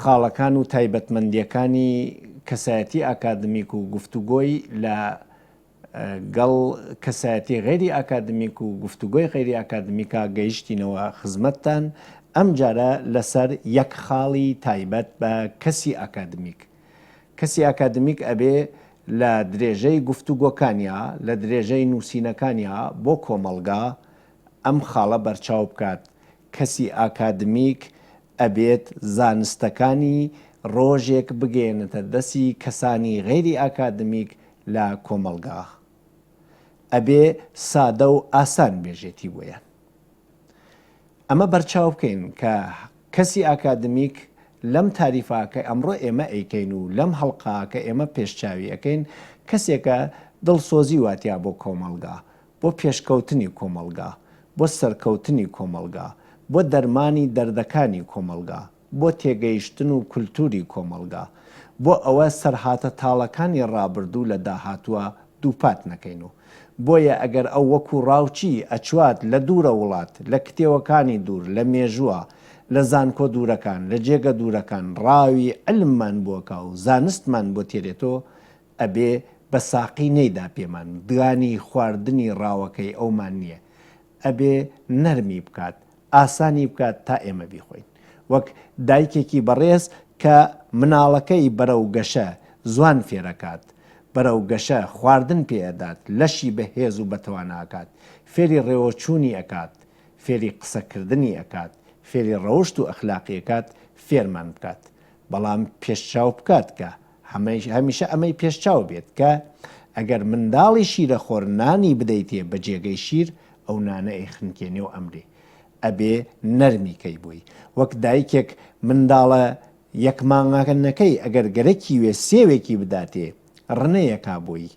خاڵەکان و تایبەتمەندییەکانی کەسایەتی ئاکادمیک و گفتوگۆی لە گەڵ کەسایەتی غەیری ئاکادمیک و گفتوگۆی غەیری ئاکادمیکا گەیشتینەوە خزمەتتان، ئەمجارە لەسەر یەک خاڵی تایبەت بە کەسی ئاکادمیک. کەسی ئاکادمیک ئەبێ لە درێژەی گفتوگۆکانیا، لە درێژەی نووسینەکانیا بۆ کۆمەڵگا ئەم خاڵە بەرچاو بکات کەسی ئاکادمیک ئەبێت زانستەکانی ڕۆژێک بگەیەنێتە دەسی کەسانی غەیری ئاکادمیک لە کۆمەڵگا. ئەبێ سادە و ئاسان بێژێتی بۆیان. ئەمە بەرچاو بکەین کە کەسی ئاکادمیک لەم تاریفە کە ئەمڕۆ ئێمە ئەیکەین و لەم هەڵقە کە ئێمە پێشچاوی ئەکەین کەسێکە دڵسۆزی واتیا بۆ کۆمەڵگا بۆ پێشکەوتنی کۆمەڵگا، بۆ سەرکەوتنی کۆمەڵگا، بۆ دەرمانی دەردەکانی کۆمەڵگا، بۆ تێگەیشتن و کولتووری کۆمەڵگا، بۆ ئەوە سەرهاتە تاڵەکانی ڕابردوو لە داهاتووە دووپات نەکەین و بۆیە ئەگەر ئەو وەکوو ڕاوچی ئەچوات لە دوورە وڵات، لە کتێوەکانی دوور، لە مێژووە، لە زانکۆ دوورەکان، لە جێگە دوورەکان ڕاوی عیلممان بۆکا و زانستمان بۆ تێرێتۆ ئەبێ بە ساقی نەیدا پێمان، دانی خواردنی ڕاوەکەی ئەومان نییە، ئەبێ نەرمی بکات، ئاسانی بکات تا ئێمە بیخۆین. وەک دایکێکی بەڕێز کە مناڵەکەی بەرەو گەشە زوان فێرەکات، بەرەو گەشە خواردن پێ ئەدات، لەشی بە هێز و بەتوانا ئەکات، فێری ڕێوەچوونی ئەکات، فێری قسەکردنی ئەکات، فێری ڕەوشت و ئەخلاقی ئەکات، فێرمان بکات. بەڵام پێشچاو بکات کە هەمیشە ئەمەی پێش چاو بێت کە ئەگەر منداڵی شیرەخۆر نانی بدەیتێ بە جێگەی شیر ئەو نانە ئەی خنکێنێ و ئەمرێ ئەبێ نەرمی کەی بۆی وەک دایکێک منداڵە یەک مانگاکەنەکەی ئەگەر گەرەکی وێ سێوێکی بداتێ ڕنەیەکا بۆی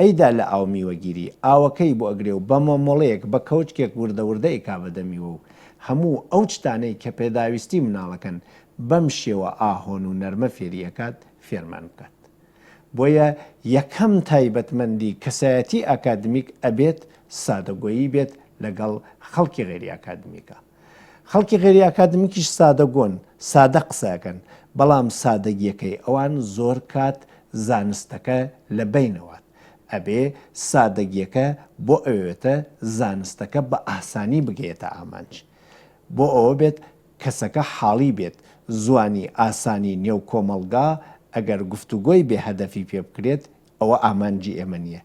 ئەیدا لە ئاو میوەگیری ئاوەکەی بۆ ئەگرێ و بە مۆمۆڵەیەک بە کەوچکێک وردە وردە ئەیکا بەدەمیوە و هەموو ئەو چتانەی کە پێداویستی مناڵەکەن بەم شێوە ئاهۆن و نەرمە فێری ئەکات فێرمان بکات بۆیە یەکەم تایبەتمەندی کەسایەتی ئاکادمیک ئەبێت سادەگۆیی بێت لەگەڵ خەڵکی غەیری ئاکادمیکا خەڵکی غەیری ئاکادمیکیش سادەگۆن سادە قسەکەن بەڵام سادەگیەکەی ئەوان زۆر کات زانستەکە لە بەینەوات ئەبێ سادەگیەکە بۆ ئەوێتە زانستەکە بە ئاسانی بگەیەتە ئامانج بۆ ئەوە بێت کەسەکە حاڵی بێت، زوانی ئاسانی نێو کۆمەڵگا ئەگەر گفتوگۆی بێ هەدەفی پێ بکرێت ئەوە ئامانجی ئێمە نیە.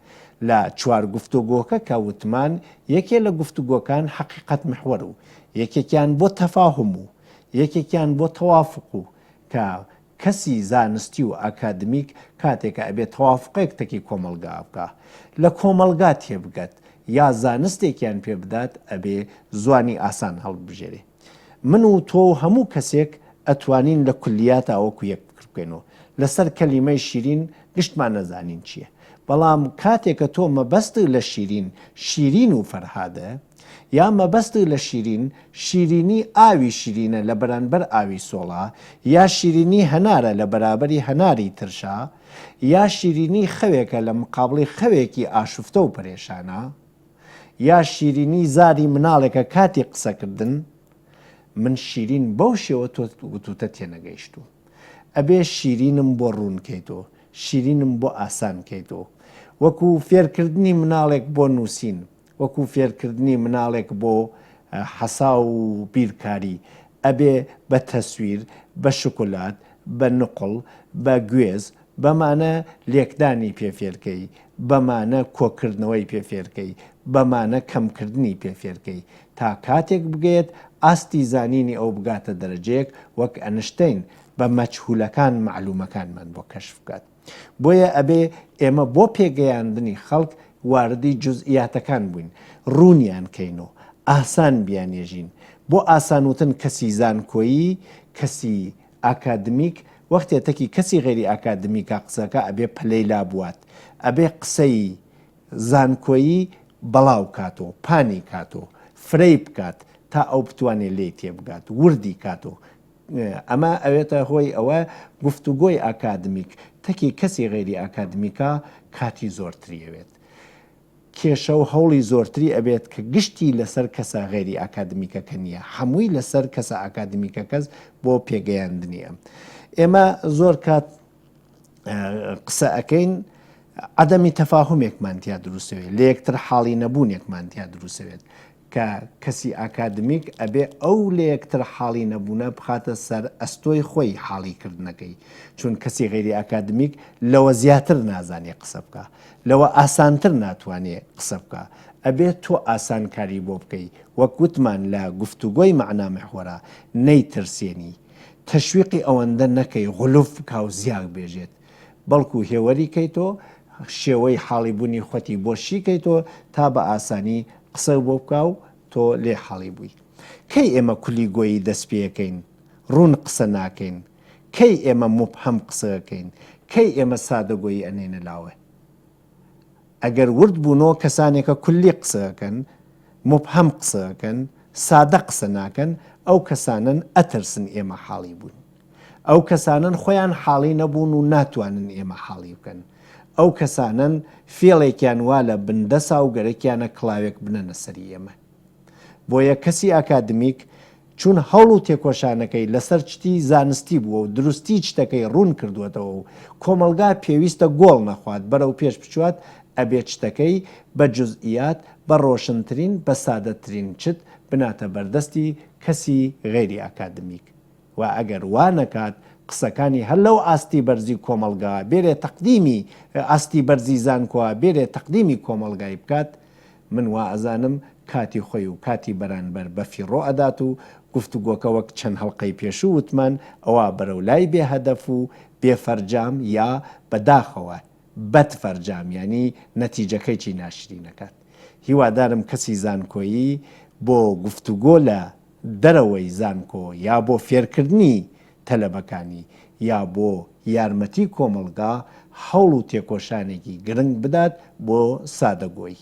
لە چوار گفتۆگۆکە کە وتمان یەکێ لە گفتوگۆکان حەقیقەت محور و یەکێکیان بۆ تەفاهم و یەکێکیان بۆ تەوافق و کە کەسی زانستی و ئاکادمیک کاتێکە ئەبێ تەوافقێک تەکی کۆمەڵگا بکا لە کۆمەڵگا تێبگەت یا زانستێکیان پێ بدات ئەبێ زوانی ئاسان هەڵببژێرێ. من و تۆ و هەموو کەسێک ئەتوانین لە کولیاتا وەکو یەک فکر بکەین و لەسەر کەلیمەی شیرین گشتمان نەزانین چییە بەڵام کاتێ کە تۆ مەبەستت لە شیرین شیرین و فەرهادە یا مەبەستت لە شیرین شیرینی ئاوی شیرینە لە بەرانبەر ئاوی سۆڵا یا شیرینی هەنارە لە بەرابەری هەناری ترشا یا شیرینی خەوێکە لە مقابڵی خەوێکی ئاشفتە و پەرێشانە یا شیرینی زاری مناڵێکە کاتی قسەکردن من شیرین بەو شێوە تۆ گوتوتە تێنەگەیشتوو ئەبێ شیرینم بۆ ڕوونکەیتۆ شیرینم بۆ ئاسان کەیتۆ وەکو فێرکردنی مناڵێک بۆ نووسین وەکو فێرکردنی مناڵێک بۆ حەسا و بیرکاری ئەبێ بە تەسویر بە شکلات بە نقل بە گوێز بەمانە لێکدانی پێ فێرکەی، بەمانە کۆکردنەوەی پێ فێرکەی، بەمانە کەمکردنی پێ فێرکەی. تا کاتێک بگەیەت ئاستی زانینی ئەو بگاتە دەرەجەیەک وەک ئەنشتەین بە مەجهولەکان مەعلومەکانمان بۆ کەشف بکات. بۆیە ئەبێ ئێمە بۆ پێگەیاندنی خەڵک واردی جوزئیاتەکان بووین، ڕوونیان کەین و ئاسان بیانێژین. بۆ ئاسان وتن کەسی زانکۆیی، کەسی ئاکادمیک وەختێ تەکی کەسی غەیری ئاکادمیکە قسەکە ئەبێ پەلەی لابوات ئەبێ قسەی زانکۆیی بەڵاو کات و پانی کات و فرەی بکات تا ئەو بتوانێ لێی تێبگات وردی کات و ئەمە ئەوێتە هۆی ئەوە گفتوگۆی ئاکادمیک تەکی کەسی غەیری ئاکادمیکە کاتی زۆرتری ئەوێت. کێشە و هەوڵی زۆرتری ئەبێت کە گشتی لەسەر کەسە غەیری ئاکادمیکەکە نیە هەمووی لەسەر کەسە ئاکادمیکەکەس بۆ پێگەیاندنی ئەم ئێمە زۆر کات قسە ئەکەین عدەمی تەفاهمێکمان تیا دروستەوێت لە یەکتر حاڵی نەبوونێکمان تیا دروستەوێت کە کەسی ئاکادمیک ئەبێ ئەو لەیەکتر حاڵی نەبوونە بخاتە سەر ئەستۆی خۆی حاڵی کردنەکەی، چون کەسی غەیری ئاکادمیک لەوە زیاتر نازانێ قسە بکا، لەوە ئاسانتر ناتوانێ قسە بکا، ئەبێ تۆ ئاسان کاری بۆ بکەی، وەک وتمان لە گفتوگۆی مەعنا محوەرا، نەیترسێنی، تەشویقی ئەوەندە نەکەی غلوف بکاو زیاک بێژێت، بەڵکو هێوەری کەیتۆ شێوەی حاڵی بونی خوتی بۆ شی کەیتۆ تا بە ئاسانی قسەو بۆ بکا و تۆ لێ حاڵی بوی کەی ئێمە کولی گۆیی دەست پێکەین رون قسە ناکەین کەی ئێمە موبهەم قسەکەین کەی ئێمە سادە گۆیی ئەنێنە لاوه ئەگەر ورد بوونۆ کەسانێکە کولی قسە ئەکەن موبهەم قسە ئەکەن سادە قسە ناکەن ئەو کەسانەن ئەترسن ئێمە حاڵی بووین ئەو کەسانەن خۆیان حاڵی نەبوون و ناتوانن ئێمە حاڵی بکەن ئەو کەسانەن فێڵێکیان وا لە بندەسا و گەرەکیانە کڵاوێک بنەنە سەری ئێمە بۆیە کەسی ئاکادمیک چون هەوڵ و تێکۆشانەکەی لەسەر چتی زانستی بووە و دروستی چتەکەی ڕوون کردووەتەوە و کۆمەڵگا پێویستە گۆڵ نەخوات بەرەو پێش بچوات ئەبێ چتەکەی بە جوزئیات بە ڕۆشنترین بە سادەترین چت بناتە بەردەستی کەسی غەیری ئاکادمیک و ئەگەر وا نەکات قسەکانی هەر لەو ئاستی بەرزی کۆمەڵگا بێرێ تەقدیمی ئاستی بەرزی زانکۆا بێرێ تەقدیمی کۆمەڵگای بکات من وائەزانم کاتی خۆی و کاتی بەرانبەر بەفیڕۆ ئەدات و گفتوگۆکە وەک چەند هەڵقەی پێشوو وتمان ئەوا بەرەو لای بێ هەدەف و بێ فەرجام یا بە داخەوە بەد فەرجام یانی نەتیجەکەیی ناشرین ئەکات هیوادارم کەسی زانکۆیی بۆ گفتوگۆ لە دەرەوەی زانکۆ یا بۆ فێرکردنی تەلەبەکانی، یا بۆ یارمەتی کۆمەڵگا هەوڵ و تێکۆشانێکی گرنگ بدات بۆ سادەگۆیی.